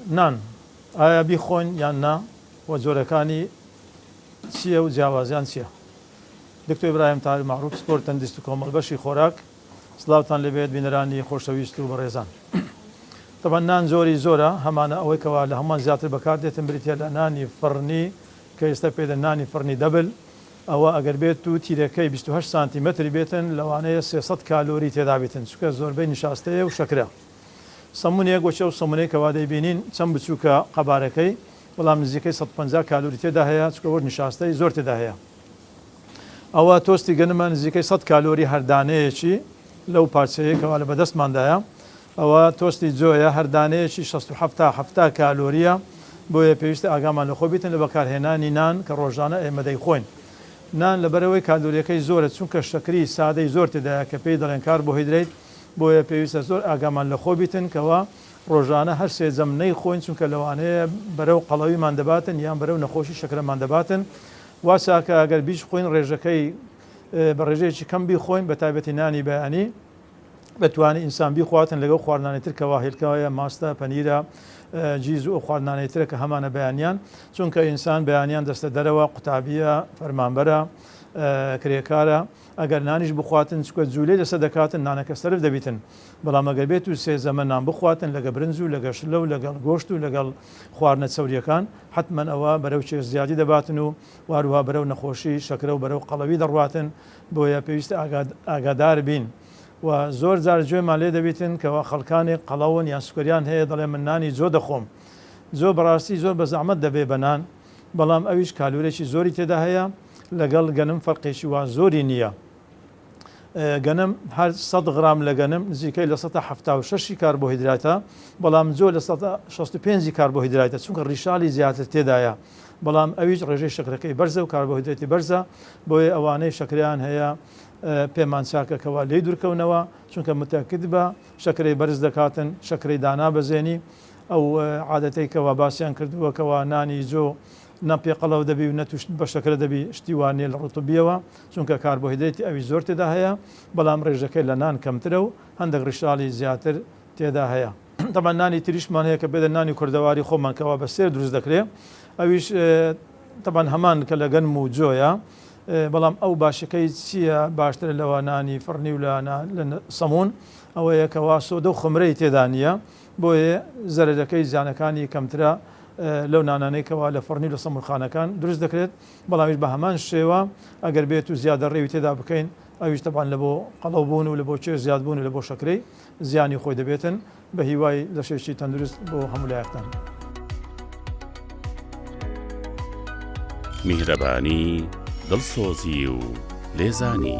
نان ئایا بیخۆین یان نا و جۆرەکانی چیە و جیاوازیان چیە؟ دکتۆر ئیبراهیم تاهیر مەعروف پسپۆر تەندیست و کۆمەڵ بەشی خۆراک سلاوتان لێ بێت بینەرانی خۆشەویست و بەڕێزان تەبەن نان جۆری زۆرە هەمانە ئەوەی کەوا لە هەموان زیاتر بەکار دێتن بریتیە لە نانی فڕنی کە ئێستا پێی دەن نانی فڕنی دەبل ئەوە ئەگەر بێت و تیرەکەی بیست و هەشت سانتی مەتر بێتن لەوانەیە سێ سەد کالۆری تێدا بیتن چونکە زۆربەی نیشاستەیە و شەکرە. سەمونێک وەکی ئەو سەمونەی کەوا دەیبینین چەند بچوکە قەبارەکەی بەڵام نزیکەی سەد و پەنجا کالوری تێدا هەیە چونکە وەک نیشاستەی زۆر تێدا هەیە ئەوە تۆستی گەنمە نزیکەی سەد کالۆری هەر دانەیەکی لەو پارچەیە کەوا لە بەدەستماندایە ئەوە تۆستی جۆیە هەر دانەیەکی شەست و حەفتا حەفتا کالۆریە بۆیە پێویستە ئاگامان لەخۆ بیتن لە بەکارهێنانی نان کە ڕۆژانە ئێمە دەیخۆین نان لەبەرەوەی کالۆریەکەی زۆرە چونکە شەکری سادەی زۆر تێدایە کە پێی دەڵێن کاربۆهیدرەیت بۆیە پێویستە زۆر ئاگامان لە خۆ بیتن کەوا ڕۆژانە هەر سێ جەم نەی خۆین چونکە لەوانەیە بەرەو قەڵەویمان دەباتن یان بەرەو نەخۆشی شەکرەمان دەباتن وا چاکە ئەگەر بیش خۆین ڕێژەکەی بە ڕێژەیەکی کەم بیخۆین بە تایبەتی نانی بەیانی بەتوانانی ئینسان بیخواتن لەگەڵ خواردنانی تر کەوا هێلکەوەیە ماستە پەنیرە جیز و خواردنانەی ترە کە هەمانە بەیانیان چونکە ئینسان بەیانیان دەستە دەرەوە قوتابیە فەرمانبەرە کرێکارە ئەگەر نانیش بخواتن چکە جولەی لەسەر دەکاتن نانەکە سەرف دەبیتن بەڵام ئەگەر بێتو سێ زەمەن نان بخواتن لەگە برنج و لەگە شلە و لەگەڵ گۆشت و لەگەڵ خواردنە چەوریەکان حەتمەن ئەوە بەرەو کێش زیادی دەباتن و وهەروها بەرەو نەخۆشی شەکرە و بەرەو قەڵەوی دەڕواتن بۆیە پێویستە ئاگادار بین و زۆر جار گوێمان لێ دەبیتن کەوا خەڵکانێک قەڵەون یان سوکەریان هەیە دەڵێ من نانی جۆ دەخۆم جۆ بەڕاستی زۆر بەزەعمەت دەبێ بە نان بەڵام ئەویش کالورێکی زۆری تێدا هەیە لەگەڵ گەنم فەرقێکی وا زۆری نییە. گەنم هەر سەد غرام لە گەنم نزیکەی لە سەدا حەفتا و شەشی کاربۆهیدراتە، بەڵام جۆ لە سەدا شەست و پێنجی کاربۆهیدراتە، چونکە ڕیشاڵی زیاتر تێدایە، بەڵام ئەویش ڕێژەی شەکرەکەی بەرزە و کاربۆهیدرەتی بەرزە، بۆیە ئەوانەی شەکرەیان هەیە پێمان چاکە کەوا لێی دوورکەونەوە، چونکە متەکید بە شەکرەی بەرز دەکاتن، شەکرەی دانابەزێنی. ئەو عادەتەی کەوا باسیان کردووە کەوا نانی جۆ نە پێقەڵەو دەبی و نە تووشت بە شەکرە دەبی، شتی وا نییە لە ڕووی طبییەوە، چونکە کاربۆهیدرەیتی ئەوی زۆر تێدا هەیە، بەڵام ڕێژەکەی لە نان کەمترە و هەندەک ڕیشاڵی زیاتر تێدا هەیە. تەبعەن نانی تریشمان هەیە کە بێدە نانی کوردەواری خۆمان کەوا بە سێر دروست دەکرێ ئەویش تەبعەن هەمان کە لە گەنم و جۆیە، بەڵام ئەو باشیەکەی چییە باشترە لە نانی فڕنی و لە سەموون ئەوەیە کەوا سۆدە و خومرەی تێدا نییە بۆیە زەرەرەکەی زیانەکانی کەمترە لەو نانانەی کەوا لە فڕنی و لە سەموورخانەکان دروست دەکرێت، بەڵامیش بە هەمان شێوە ئەگەر بێت و زیادە ڕێوی تێدا بکەین ئەویش تەبعەن لە بۆ قەڵەو بوون و لە بۆ کێش زیاد بوون و لە بۆ شەکرەی زیانی خۆی دەبێتن، بە هیوای لەشێکی تەندروست بۆ هەموو لایەکتان. میهرەبانی، دڵسۆزی و لێزانی.